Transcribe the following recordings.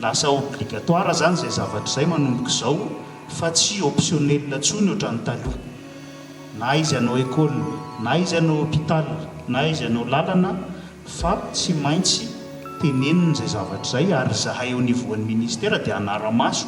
Lasa obligatoire zany zay zavatra zay manomboka izao fa tsy optionnel tsony ohatran'ny taloha. Na izy anao école, na izy anao hôpital, na izy anao lalana fa tsy maintsy tenenina izay zavatra izay ary izahay au niveau an'ny ministera dia hanara-maso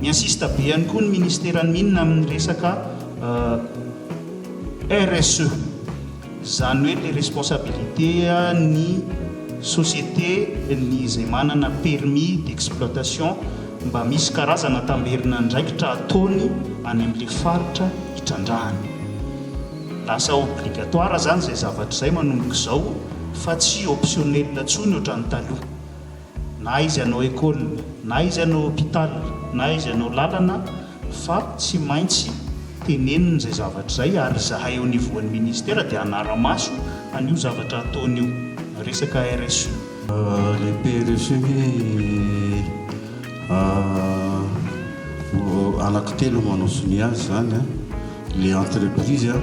Miinsiste be ihany koa ny Ministeran'ny Mines amin'ny resaka RSE, izany hoe ilay responsabilité ny société ny izay manana permis d'exploitation mba misy karazana tamberin'andraikitra ataony any amin'ilay faritra hitrandrahany. Lasa obligatoire izany izay zavatra izay manomboka izao fa tsy optionnel intsony ohatran'ny taloha. na aiza no ecole, na aiza no hopital, na aiza no lalana fa tsy maintsy tenenina izay zavatra izay ary izahay eo nivoan'ny ministera dia hanara-maso an'io zavatra ataony io, resaka RSE. Le PRSE ve anaky telo manao sonia azy zany an, le entreprise an.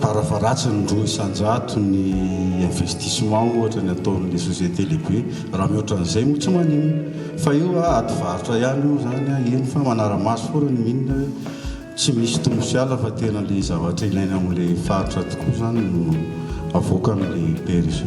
Fara-faharatsiny roa isan-jato ny investissement ohatra ny ataon'ny société lehibe. Raha mihoatra an'izay moa tsy maninona. Fa io a, ady varotra ihany io izany a, eny fa manara-maso foana ny mine hoe tsy misy tombo sy ala fa tena ilay zavatra ilaina amin'ilay faritra tokoa izany no avoaka amin'ilay PRGE.